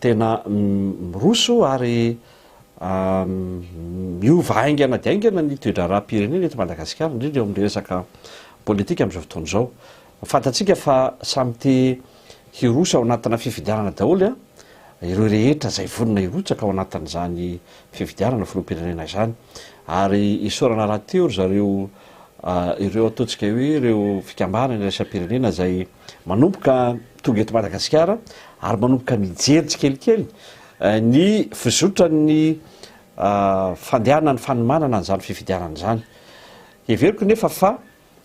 Tena miroso ary miova haingana dia haingana ny toe-draharaham-pirenena eto Madagasikara, indrindra eo amin'ny resaka politika amin'izao fotoana izao. Fantatsika fa samy te hiroso ao anatina fifidianana daholo ireo rehetra izay vonona hirotsaka ao anatin'izany fifidianana filoham-pirenena izany. Ary isaorana rahateo ry zareo ireo ataontsika hoe ireo fikambanana iraisam-pirenena izay Manomboka tonga eto Madagasikara ary manomboka mijery tsikelikely ny fizotran'ny fandehanan'ny fanomanana an'izany fifidianana izany. Heveriko nefa fa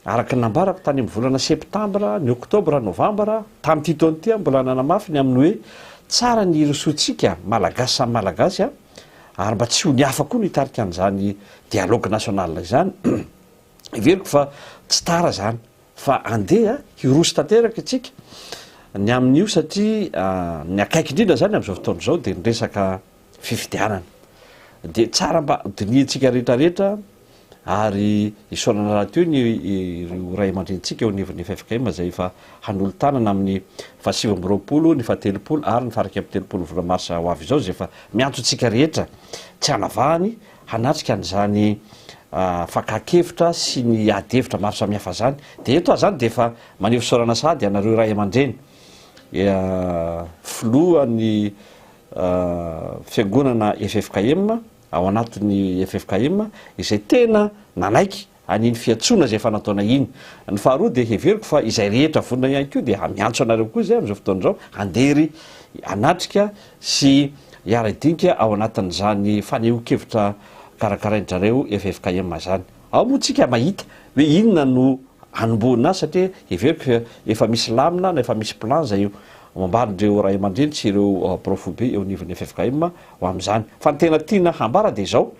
araka ny nambarako tany amin'ny volana septambra, ny oktobra, novambra, tamin'ity taona ity aho mbola nanamafy ny amin'ny hoe tsara ny hirosoantsika Malagasy samy Malagasy ary mba tsy ho ny hafa koa no hitarika an'izany dialogue national izany. Heveriko fa tsy tara izany. Fa andeha hiroso tanteraka isika ny amin'io satria ny akaiky indrindra izany amin'izao fotoana izao dia ny resaka fifidianana. Dia tsara mba dinihintsika rehetrarehetra ary isaorana rahateo ny ireo ray aman-drenintsika eo anivon'ny ffkm izay efa hanolo-tanana amin'ny fahasivy amby roapolo, ny fahatelopolo ary ny faharaika amby telopolo volana marsa ho avy izao izay efa miantso antsika rehetra tsy hanavahany hanatrika an'izany fakan-kevitra sy ny ady hevitra maro samihafa izany. Dia eto aho izany dia efa maneho fisaorana sahady anareo ray aman-dreny, filohan'ny fiangonana ffkm ao anatin'ny ffkm izay tena nanaiky an'iny fiantsoana izay efa nataonay iny. Ny faharoa dia heveriko fa izay rehetra vonona ihany koa dia miantso anareo koa izay amin'izao fotoana izao handeha ery hanatrika sy hiara-hidinika ao anatin'izany fanehoan-kevitra karakarain-drareo ffkm izany. Ao moa tsika mahita hoe inona no hanombohana azy satria heveriko fa efa misy lamina na efa misy plan izay hoambarin'ireo ray aman-dreny sy ireo prof be eo anivon'ny ffkm ho amin'izany. Fa ny tena tiana hambara dia izao,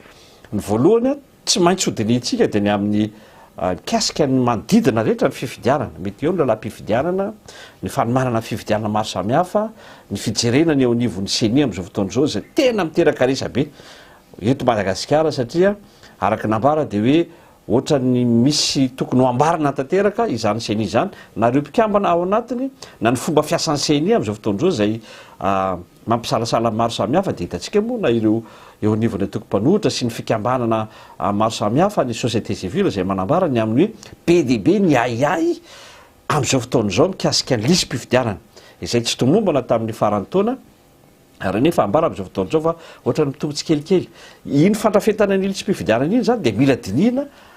ny voalohany, Tsy maintsy hodinihintsika dia ny amin'ny mikasika ny manodidina rehetra ny fifidianana, mety eo ny lalam-pifidianana, ny fanomanana fifidianana maro samihafa, ny fijerena ny eo anivon'ny ceni amin'izao fotoana izao izay tena miteraka resabe eto Madagasikara satria araka ny nambara dia hoe ohatran'ny misy tokony ho ambarana tanteraka izany ceni izany na ireo mpikambana ao anatiny na ny fomba fiasan'ny ceni amin'izao fotoana izao izay Mampisalasala maro samihafa dia hitantsika moa na ireo eo anivon'ny antoko mpanohitra sy ny fikambanana maro samihafa ny société civile izay manambara ny amin'ny hoe be dia be ny ahiahy amin'izao fotoana izao mikasika ny lisi-pifidianana izay tsy tomombana tamin'ny faran'ny taona ary anefa ambara amin'izao fotoana izao fa ohatrany mitombo tsikelikely. Iny fandrafetana ny lisi-pifidianana iny izany dia mila dinihina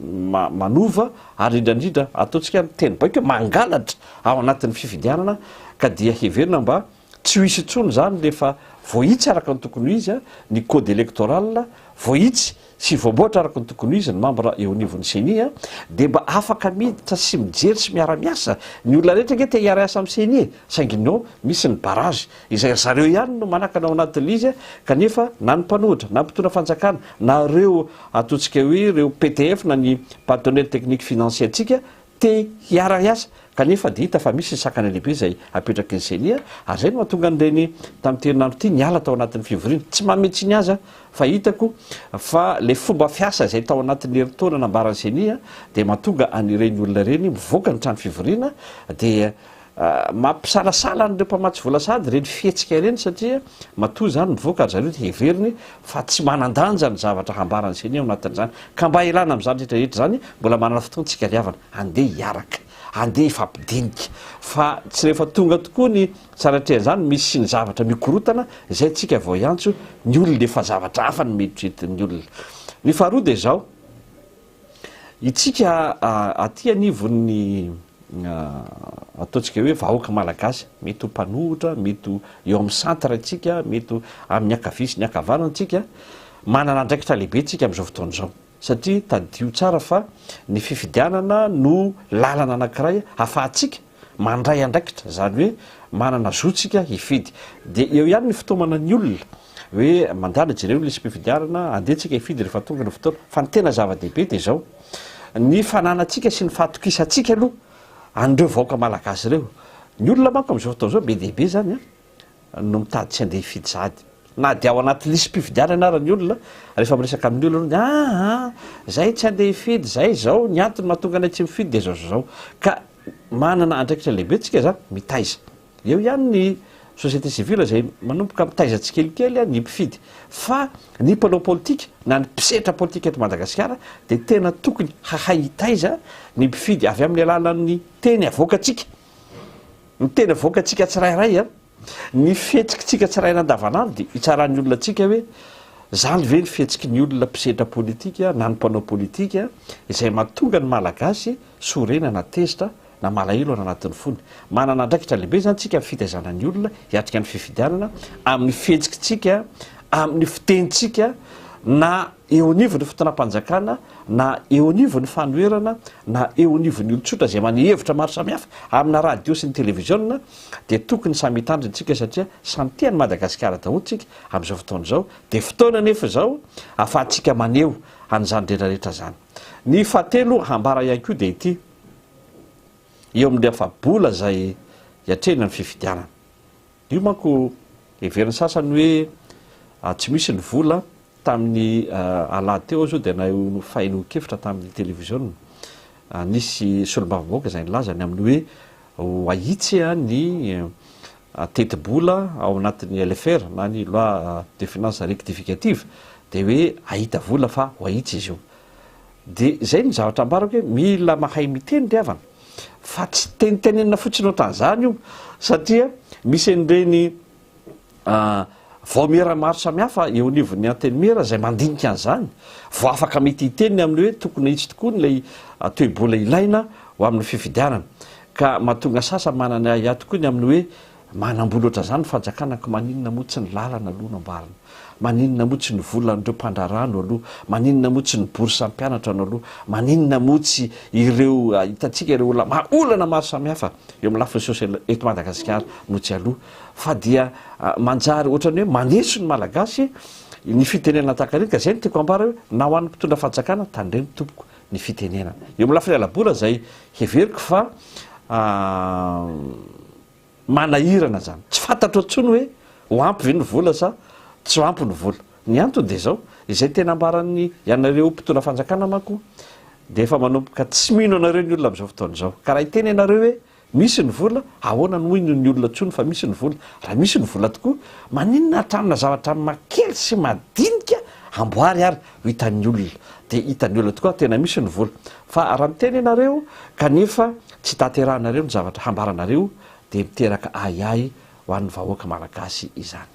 manova ary indraindrindra ataontsika amin'ny teny baiko hoe mangalatra ao anatin'ny fifidianana ka dia heverina mba tsy ho hisy intsony izany rehefa voahitsy araka ny tokony ho izy ny code electoral, voahitsy sy voamboatra araka ny tokony ho izy ny mambra eo anivon'ny ceni dia mba afaka miditra sy mijery sy miara-miasa, ny olona rehetra ange te hiara-hiasa amin'ny ceni e! saingy non, misy ny barrage. izay ry zareo ihany no manakana ao anatin'ny izy kanefa na ny mpanohitra na mpitondra fanjakana na ireo ataontsika hoe ireo ptf na ny partenaire technique financier ntsika te hiara hiasa kanefa dia hita fa misy ny sakana lehibe izay apetraky ny ceni ary izay no mahatonga an'ireny tamin'ity herinandro ity niala tao anatin'ny fivoriana tsy manome tsiny aza fa hitako fa ilay fomba fiasa izay tao anatin'ny herintaona nambaran'ny ceni dia mahatonga an'ireny olona ireny mivoaka ny trano fivoriana dia Mampisalasala an'ireo mpamatsy vola sahady ireny fihetsika ireny satria matoa izany mivoaka ry zareo dia heveriny fa tsy manan-danja ny zavatra hambaran'ny ceni ao anatin'izany. Ka mba hialana amin'izany rehetra rehetra izany, mbola manana fotoana isika hariavana. Andeha hiaraka, andeha hifampidinika fa tsy rehefa tonga tokoa ny tsara atrehan'izany misy ny zavatra mikorotana izay tsika vao hiantso ny olona efa zavatra hafa no mieritreritin'ny olona. Ny faharoa dia izao. Itsika aty anivon'ny ataontsika hoe vahoaka malagasy, mety ho mpanohitra, mety ho eo amin'ny centre itsika, mety ho amin'ny ankavia sy ny ankavanana itsika, manana andraikitra lehibe itsika amin'izao fotoana izao satria tadidio tsara fa ny fifidianana no lalana anankiray afahantsika Mandray andraikitra, izany hoe manana zo tsika hifidy. Dia eo ihany ny fitaomana ny olona, hoe mandala jereo ny lisi-pifidianana, andeha tsika hifidy rehefa tonga ny fotoana. Fa ny tena zava-dehibe dia izao, ny fananantsika sy ny fahatokisantsika aloha an'ireo vahoaka malagasy ireo. Ny olona manko amin'izao fotoana izao be dia be izany an! no mitady tsy handeha hifidy sahady na dia ao anaty lisi-pifidianana ary ny olona, rehefa miresaka amin'ny olona hono, aa zay tsy handeha hifidy, zay izao, ny antony mahatonga anay tsy mifidy dia izao sy izao. Ka manana andraikitra lehibe tsika izany, mitaiza. Eo ihany ny société civile izay manomboka mitaiza tsikelikely ny mpifidy. Fa ny mpanao politika na ny mpisetra politika eto Madagasikara dia tena tokony hahay hitaiza ny mpifidy avy amin'ny alalan'ny teny avoakantsika. Ny tena vokantsika tsirairay an! Ny fihetsikitsika tsirairay andavanandro dia hitsaran'ny olona antsika hoe izany ve ny fihetsiky ny olona mpisedra politika na ny mpanao politika izay mahatonga ny Malagasy sorena na tezitra na malahelo any anatin'ny fony. Manana andraikitra lehibe izany tsika amin'ny fitaizana ny olona hiatrika ny fifidianana amin'ny fihetsikitsika, amin'ny fitenintsika na eo anivon'ny fitondram-panjakana na eo anivon'ny fanoherana na eo anivon'ny olon-tsotra izay maneho hevitra maro samihafa amina radio sy ny televiziona dia tokony samy hitandrina isika satria samy tia an'i Madagasikara daholo isika amin'izao fotoana izao dia fotoana anefa izao afahantsika maneho an'izany rehetrarehetra izany ny fahatelo hambara ihany koa dia ity eo amin'ny afa-bola izay hiatrehina ny fifidianana Io manko heverin'ny sasany hoe tsy misy ny vola, tamin'ny alahady teo aza io dia nahefain'olon-kevitra tamin'ny televiziona, nisy solombavambahoaka izay nilaza ny amin'ny hoe ho ahitsy ny tetibola ao anatin'ny LFR na ny loi de finances rectificative dia hoe hahita vola fa ho ahitsy izy io. Dia izay ny zavatra ambarako hoe mila mahay miteny ry havana. Fa tsy tenitenenina fotsiny ohatran'izany io satria misy an'ireny vaomiera maro samihafa eo anivon'ny Antenimiera izay mandinika an'izany vao afaka mety hiteny ny amin'ny hoe tokony ahitsy tokoa ny ilay toe-bola ilaina ho amin'ny fifidianana ka mahatonga sasany manana ahiahy tokoa ny amin'ny hoe Manambola ohatran'izany ny fanjakana ka maninona moa tsy ny lalana aloha no amboarina? Maninona moa tsy ny volan'ireo mpandraharaha no aloa? Maninona moa tsy ny bourse an'ny mpianatra no aloa? Maninona moa tsy ireo hitantsika ireo olona maro, olana maro samihafa eo amin'ny lafiny social eto Madagasikara no tsy aloa? Fa dia manjary ohatran'ny hoe maneso ny Malagasy ny fitenenana tahaka ireny ka izay no tiako ambara hoe na ho an'ny mpitondra fanjakana tandremo tompoko ny fitenenana eo amin'ny lafiny ala-bola izay heveriko fa Manahirana izany. Tsy fantatro intsony hoe ho ampy ve ny vola sa tsy ho ampy ny vola. Ny antony dia izao, izay tena ambaran'ny ianareo mpitondra fanjakana manko dia efa manomboka tsy mino anareo ny olona amin'izao fotoana izao. Ka raha hiteny ianareo hoe misy ny vola, ahoana no hino ny olona intsony fa misy ny vola? Raha misy ny vola tokoa, maninona hatramin'ny zavatra makely sy madinika amboary ary Hitan'ny olona dia hitan'ny olona tokoa tena misy ny vola fa raha miteny ianareo kanefa tsy tanterahinareo ny zavatra hambaranareo dia miteraka ahiahy ho an'ny vahoaka malagasy izany.